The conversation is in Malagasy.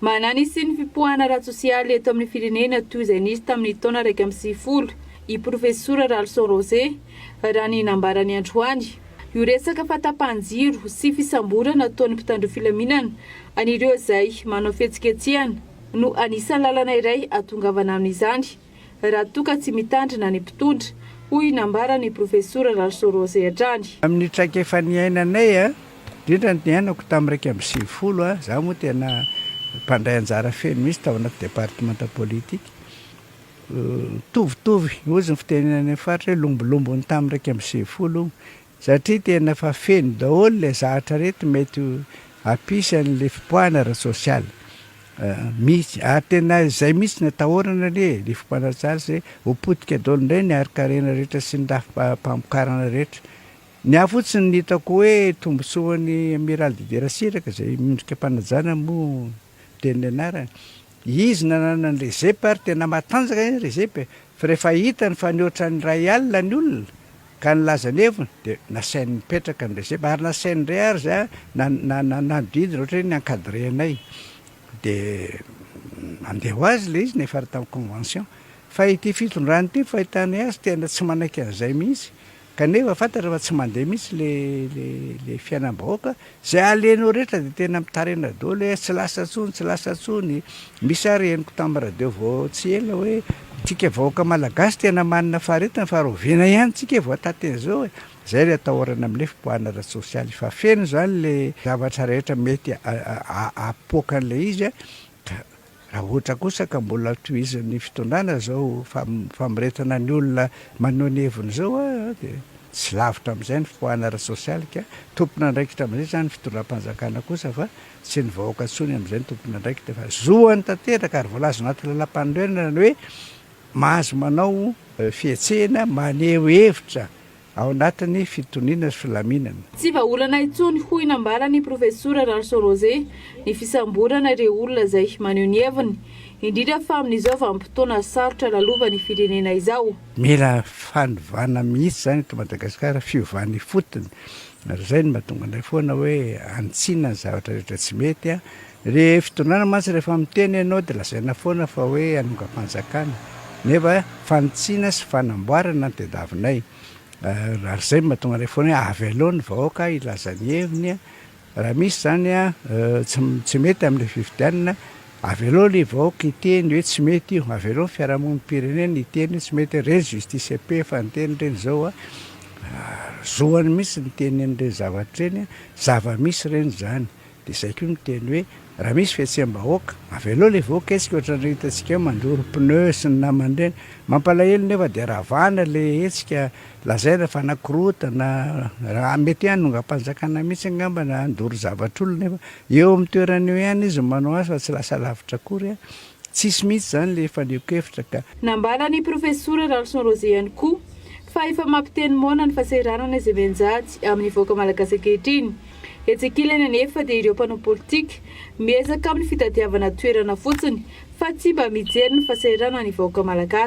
Manana ny hisian'ny fipoahana ara-tsosialy eto amin'ny firenena toy izay nisy tamin'ny taona iraika amby sivifolo i Profesora Ralison Rose, raha ny nambarany androany. Io resaka fahatapahan-jiro sy fisamborana ataon'ny mpitandro filaminana an'ireo izay manao fihetsiketsehana no anisan'ny lalana iray ahatongavana amin'izany. raha toa ka tsy mitandrina ny mpitondra, hoy nambara ny Profesora Ralsorozy hatrany. Amin'ny traikefa niainanay, indrindra ny niainako tamin'ny iraika amby sivifolo, izaho moa tena mpandray anjara feno mihitsy tao anaty departemanta politika. Mitovitovy, hozy ny fiteny any amin'ny faritra hoe lombolombo ny tamin'ny iraika amby sivifolo Satria tena efa feno daholo le zahatra reto mety ho apisany le fipoahana ara-tsosialy mihitsy ary tena izay mihitsy no atahorana anie e, le fipoahana ara-tsosialy zay ho potika daholo indray ny harin-karena rehetra sy ny rafi-pamokarana rehetra. Ny ahy fotsiny ny hitako hoe tombotsoan'ny Amiral Dider Siraka izay miondrika am-panajana moa. Teny nianarany. Izy nanana ny Rezep ary tena matanjaka ny Rezep e! Fa rehefa hitany fa nihoatra ny iray alina ny olona ka nilaza ny heviny dia nasainy nipetraka ny Rezep ary nasainy indray ary za na na nanodidina ohatra hoe ny encadrenay dia andeha ho azy ilay izy nefa ary tamin'ny convention. Fa ity fitondrana ity ny fahitana azy tena tsy manaiky an'izay mihitsy Kanefa fantatra fa tsy mandeha mihitsy le le le fiainam-bahoaka, zay alenao rehetra de tena mitarena daholo hoe tsy lasa intsony, tsy lasa intsony, misy ary henoko tam radio vao tsy ela hoe antsika vahoaka malagasy tena manana faharetana fa rahoviana ihany tsika vao hatateny zao e, zay le atahorana amle fipoahana ara tsosialy fa feno zany le zavatra rehetra mety apoaka anle izy a, ka Raha ohatra kosa ka mbola tohizan'ny fitondrana izao famoretana ny olona maneho ny heviny izao dia tsy lavitra amin'izay ny fipoahana ara-tsosialy ka tompon'andraikitra amin'izay izany ny fitondram-panjakana kosa fa tsy ny vahoaka intsony amin'izay no tompon'andraikitra fa zoany tanteraka ary voalaza anaty lalàmpanorenana ny hoe mahazo manao fihetsehana maneho hevitra Ao anatin'ny fitoniana sy filaminana. Tsy vahaolana intsony hoy nambaran'ny Profesora Ralison Rose ny fisamborana ireo olona izay maneho ny heviny, indrindra fa amin'izao vanim-potoana sarotra lalovan'ny firenena izao. Mila fanovana mihitsy izany eto Madagasikara, fiovana ifotony, ary izay no mahatonga anay foana hoe hanitsiana ny zavatra rehetra tsy mety. Ry fitondrana mantsy rehefa miteny ianao dia lazaina foana fa hoe hanongam-panjakana nefa fanitsiana sy fanamboarana no tadiavinay. Ary izay no mahatonga anay foana hoe avelao ny vahoaka hilaza ny heviny, raha misy izany tsy mety amin'ilay fifidianana, avelao ilay vahoaka hiteny hoe tsy mety io, avelao ny fiarahamonim-pirenena hiteny hoe tsy mety io, ireny Justice Pe efa niteny ireny izao, zoany mihitsy ny mitenen'ireny zavatra ireny, zava-misy ireny izany. Dia izay koa ny teny hoe raha misy fihetseham-bahoaka, avelao ilay vahoaka hetsika ohatran'ireny hitantsika hoe mandoro pneu sy ny namany ireny. Mampalahelo nefa dia ravana ilay hetsika, lazaina fa nakorotana, mety hoe hanongam-panjakana mihitsy angamba na handoro zavatr'olona nefa eo amin'ny toerany eo ihany izy no manao azy fa tsy lasa lavitra akory. Tsisy mihitsy izany ilay fanehoan-kevitra ka. Nambaran'ny Profesora Ralison Rozé ihany koa fa efa mampiteny moana ny fahasahiranana izay mianjady amin'ny vahoaka malagasy ankehitriny. Etsy ankilany anefa dia ireo mpanao politika miezaka amin'ny fitadiavana toerana fotsiny fa tsy mba mijery ny fahasahiranan'ny vahoaka malagasy.